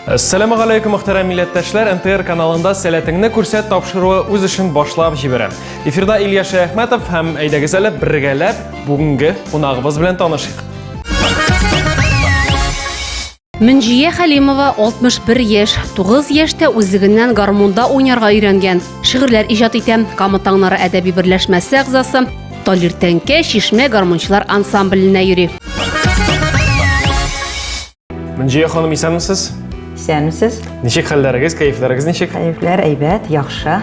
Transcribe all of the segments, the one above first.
Әссәләму алейкум, мөхтәрәм милләттәшләр. НТР каналында сәләтеңне күрсәт тапшыруы үз эшен башлап җибәрә. Эфирда Илья Шәяхмәтов һәм әйдәгез әле бергәләп бүгенге кунагыбыз белән танышыйк. Мөнҗия Хәлимова 61 яшь, 9 яшьтә үзлегеннән гармунда уйнарга өйрәнгән. Шигырьләр иҗат итә, Кама таңнары әдәби берләшмәсе әгъзасы, Талир тәңкә, Чишмә гармунчылар ансамбленә йөри. Мөнҗия ханым, исәнмесез? Исәнмесез. Ничек хәлләрегез, кәефләрегез ничек? Кәефләр әйбәт, яхшы.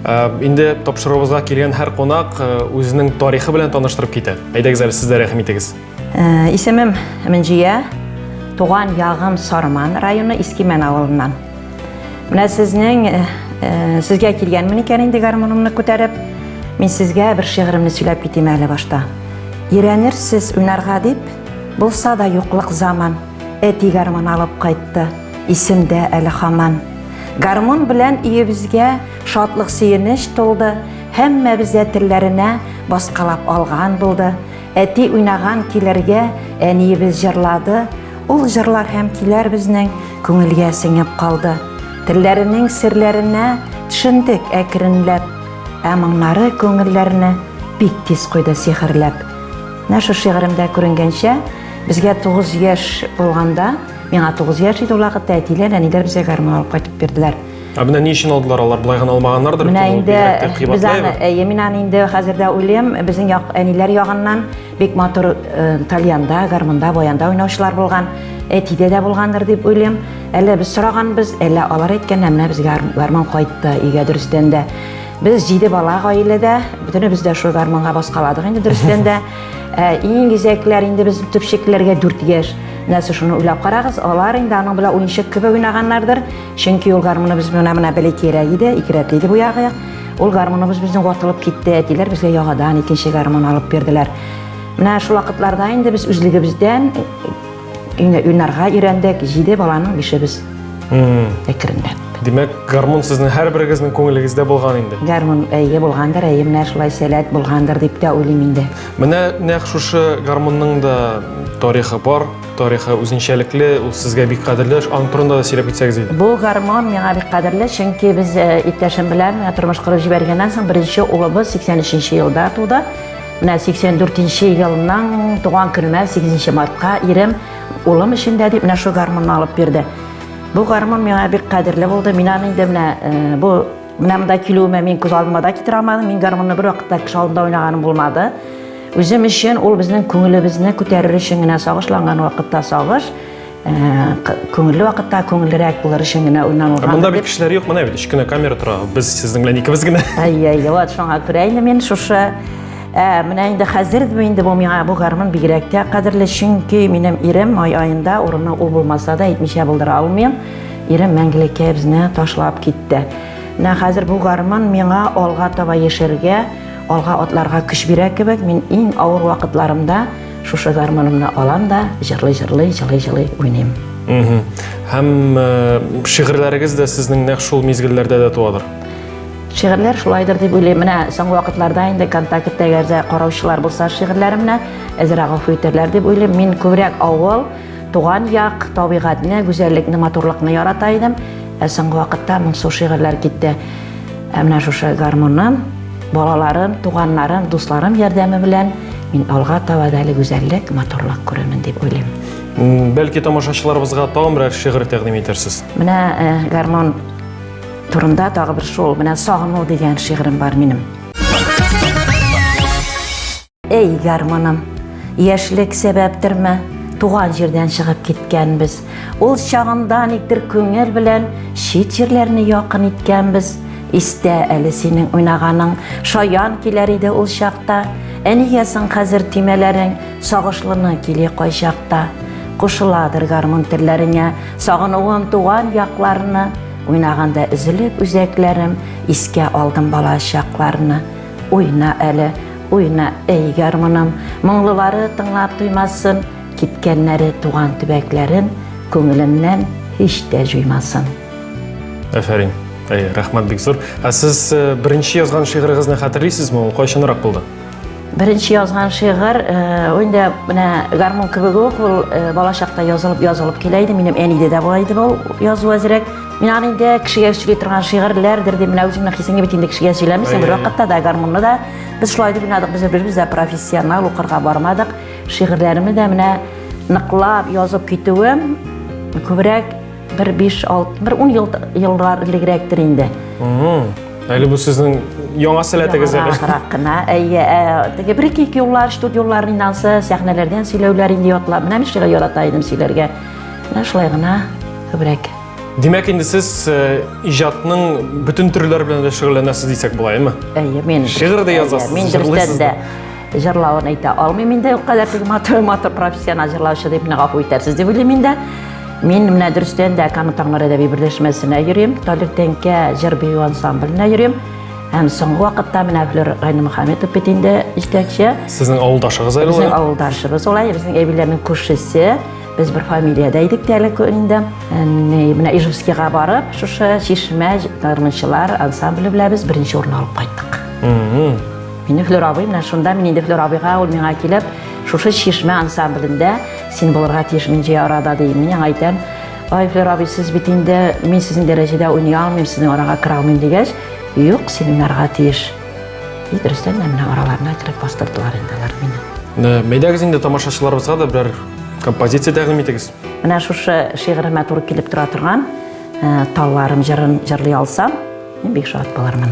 Ә, инде тапшыруыбызга килгән һәр кунак э, үзенең тарихы белән таныштырып китә. Әйдәгез әле сез дә рәхим итегез. Э, исемем Минҗия, туган ягым Сарман районы Искимән авылыннан. Менә сезнең э, э, сезгә килгәнмен икән инде гармунымны күтәреп, мин сезгә бер шигыремне сөйләп китим әле башта. Ирәнерсез уйнарга дип, булса да юклык заман, әти гармун алып кайтты, исемдә әле хаман. Гармун белән иебезгә шатлык сөенеч тулды, һәммәбез дә телләренә баскалап алган булды. Әти уйнаган килергә әниебез җырлады, ул җырлар һәм киләр безнең күңелгә сеңеп калды. Телләренең серләренә төшендек әкренләп, ә моңнары күңелләрне бик тиз куйды сихерләп. Менә шу шигыремдә күренгәнчә, безгә 9 яшь булганда, миңа 9 яшь иде ул вакытта, әтиләр, әниләр безгә гармун алып кайтып бирделәр. Ә менә ни өчен алдылар алар? Болай гына алмаганнардыр бит. Менә инде без аны, әйе, мин аны инде хәзер дә уйлыйм. Безнең як әниләр ягыннан бик матур э, тальянда, гармунда, баянда уйнаучылар булган. Әтидә дә булгандыр дип уйлыйм. Әллә без сораганбыз, әллә алар әйткәннәр, менә безгә гармун кайтты, өйгә дөрестән дә. Без җиде бала гаиләдә, бөтенебез дә шул гармунга баскаладык инде дөрестән дә. Ә, иң изәкләр инде без төпчекләргә 4 яшь. Нәрсә шуны уйлап карагыз, алар инде аның белән уенчык кебек уйнаганнардыр. Чөнки ул гармуныбыз менә менә беле кирәк иде, икерәк иде бу ягы. Ул гармуныбыз безнең ватылып китте, әтиләр безгә ягадан икенче гармун алып бирделәр. Менә шул вакытларда инде без үзлегебездән уйнарга өйрәндек, җиде баланың бишебез әкренләп. Димәк, гармун сезнең һәрберегезнең күңелегездә булган инде. Гармун әйе булгандыр, әйе менә шулай сәләт булгандыр дип тә уйлыйм инде. Менә нәкъ шушы гармунның да тарихы бар. тарихы үзенчәлекле, ул сезгә бик кадерле. Аның турында да сөйләп китсәгез иде. Бу гармон миңа бик кадерле, чөнки без э, иптәшем белән э, тормыш корып җибәргәннән соң беренче улыбыз 83 елда туды. Менә 84 елның туган көненә 8 мартка ирем улым өчен дә дип менә шул гармонны алып бирде. Бу гармон миңа бик кадерле булды. Мин аны инде менә э, бу Менә монда килүемә мин күз алдыма да китерә алмадым. Мин гармонны бер вакытта кеше алдында уйнаганым булмады. Үзем өчен ул безнең күңелебезне күтәрер өчен генә сагышланган вакытта сагыш, э, күңелле вакытта күңеллерәк булыр өчен генә уйнанылган. Монда бит кешеләр юк, менә бит өч кенә камера тора. Без сезнең белән икебез генә. Ай, ай, вот шуңа күрә инде мин шушы Ә, менә инде хәзер инде бу миңа бу гармун бигрәк тә кадерле, чөнки минем ирем май аенда урыны ул булмаса да әйтмичә булдыра алмыйм. Ирем мәңгелеккә безне ташлап китте. Менә хәзер бу гармун миңа алга таба яшәргә, алга атларга көч бирә кебек. Мин иң авыр вакытларымда шушы гармунымны алам да, җырлый-җырлый, җылый-җылый уйныйм. Һәм э, шигырьләрегез дә сезнең нәкъ шул мизгелләрдә дә туадыр. Шигырьләр шулайдыр дип уйлыйм. Менә соңгы вакытларда инде контакттагы караучылар булса шигырьләремне әзрәк гафу итәрләр дип уйлыйм. Мин күбрәк авыл Туган як, табигатьне, гүзәллекне, матурлыкны ярата идем. Ә соңгы вакытта моңсу шигырьләр китте. Ә менә шушы гармуннан балаларым, туганнарым, дусларым ярдәме белән мин алга таба да әле гүзәллек, матурлык күрермен дип уйлыйм. Бәлки тамашачыларыбызга тагын берәр шигырь тәкъдим итәрсез? Менә э, гармон турында тагы бер шул, менә сагыну дигән шигырем бар минем. Эй, гармоным, яшьлек сәбәптерме, туган җирдән чыгып киткәнбез. Ул чагында никтер күңел белән чит җирләрне якын иткәнбез. Истә әле синең уйнаганың, шаян киләр иде ул чакта. Әнигә соң хәзер тимәләрең, сагышлыны кили кайчакта. Кушыладыр гармун телләреңә, сагынуым туган якларны. Уйнаганда өзелеп үзәкләрем, искә алдым бала чакларны. Уйна әле, Уйна, әй гармуным, моңлылары тыңлап туймасын, киткәннәре туган төбәкләрен күңеленнән һич тә җуймасын. Афәрин. Әй, рәхмәт бик зур. Ә сез э, беренче язган шигырыгызны хәтерлисезме? Ул кайчанрак булды? Беренче язган шигырь, э, инде менә гармун кебек үк ул э, балачакта язылып язылып килә иде. Минем әниде дә була иде ул язу әзрәк. Мин аны инде кешегә сөйли торган шигырьләрдер дип, менә үзеңнең хисеңне бит инде кешегә сөйләмис, бер вакытта да гармунны да без шулай дип уйнадык, без беребез дә профессионал укырга бармадык. Шигырьләремне дә менә ныклап язып китүем күбрәк бер 5-6, бер 10 ел еллар элегрәктер инде. Әле бу сезнең яңа сәләтегез әле. Яңарак кына. Әйе, теге бер-ике юллар, студияләрнән ансы, сәхнәләрдән сөйләүләр инде ятлап. Менә мин шигырь ярата идем сөйләргә. Менә шулай гына күбрәк. Димәк, инде сез э, иҗатның бөтен төрләре белән дә шөгыльләнәсез дисәк була, әйме? Әйе, мин. Шигырь дә язасыз, Мин дөрестән дә җырлавын әйтә алмыйм инде, ул кадәр теге матур, матур профессионал җырлаучы дип миңа гафу итәрсез дип уйлыйм инде. Мин менә дөрестән дә Кама таңнары әдәби берләшмәсенә йөрим, Талир тәңкә җыр бию ансамбленә йөрим. Һәм соңгы вакытта менә Флер Гайнымөхәммәтов бит инде җитәкче. Сезнең авылдашыгыз әле Безнең авылдашыбыз улай, безнең әбиләрнең күршесе. Без бер фамилиядә идек тә әле инде. Менә Ижевскийга барып, шушы Чишмә гармунчылар ансамбле белән без беренче урын алып кайттык. Мине Флюр абый менә шунда мин инде Флюр абыйга ул миңа килеп, шушы Чишмә ансамблендә син булырга тиеш Минҗи арада ди. Мин аңа әйтәм, "Ай Флюр абый, сез бит инде мин сезнең дәрәҗәдә уйный алмыйм, сезнең арага керә алмыйм" дигәч, "Юк, семинарга тиеш". Дөрестән дә менә араларына кереп бастырдылар инде алар мине. Э, Мәйдәгез инде тамашачыларыбызга да берәр композиция тәкъдим итегез. Менә шушы шигыремә туры килеп тора торган э, талларым җырын җырлый алсам, мин бик шат булырмын.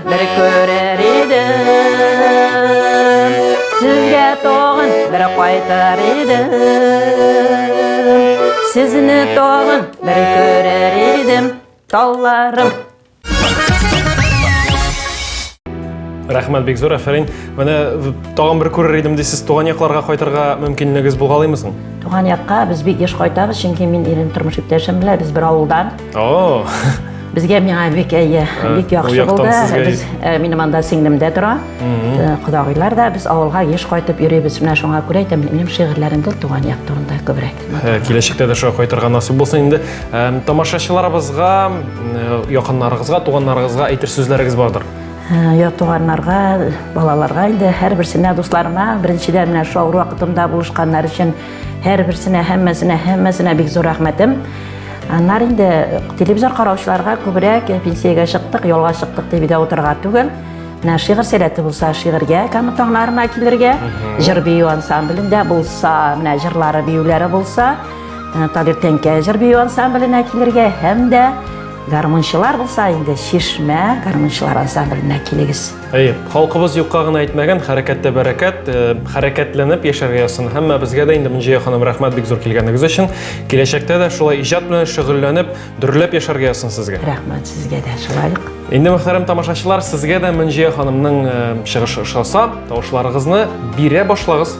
бер күрер идем Сезгә тагын бер кайтар идем Сезне тагын бер күрер идем Талларым Рәхмәт бик зур, әфәрин. Менә тагын бер күрер идем дисез, туган якларга кайтырга мөмкинлегегез булгалыймы соң? Туган якка без бик еш кайтабыз, чөнки мин ирем тормыш иптәшем белән без бер авылдан. О! Безгә миңа бик әйе, бик яхшы булды. Без э, минем анда сеңлем дә тора. Э, Кодагыйлар да без авылга еш кайтып йөрибез. Менә шуңа күрә әйтәм, минем шигырьләрем дә туган як турында күбрәк. Э, киләчәктә дә шулай кайтырга насыйп булсын инде. Тамашачыларыбызга, якыннарыгызга, туганнарыгызга әйтер сүзләрегез бардыр. Йә туганнарга, балаларга инде һәрберсенә, дусларыма, беренчедән менә шул авыр вакытымда булышканнар өчен Һәрберсенә, һәммәсенә, һәммәсенә бик зур рәхмәтем. Аннар инде телевизор караучыларга күбрәк пенсиягә чыктык, ялга чыктык дип дә утырга түгел. Менә шигырь сәләте булса, шигырьгә кәме таңнарына килергә, җыр бию ансамблендә булса, менә җырлары биюләре булса, э, Талир Тәңкә җыр бию ансамбленә килергә һәм дә гармунчылар булса, инде Чишмә гармунчылар ансамбленә килегез. Әйе, халкыбыз юкка гына әйтмәгән, хәрәкәттә бәрәкәт, э, хәрәкәтләнеп яшәргә язсын. Һәммә безгә дә инде Мөнҗия ханым рәхмәт бик зур килгәнегез өчен. Киләчәктә дә шулай иҗат белән шөгыльләнеп, дөрләп яшәргә язсын сезгә. Рәхмәт сезгә дә шулай. Инде мөхтәрәм тамашачылар, сезгә дә Мөнҗия ханымның э, чыгышы ошаса, тавышларыгызны бирә башлагыз.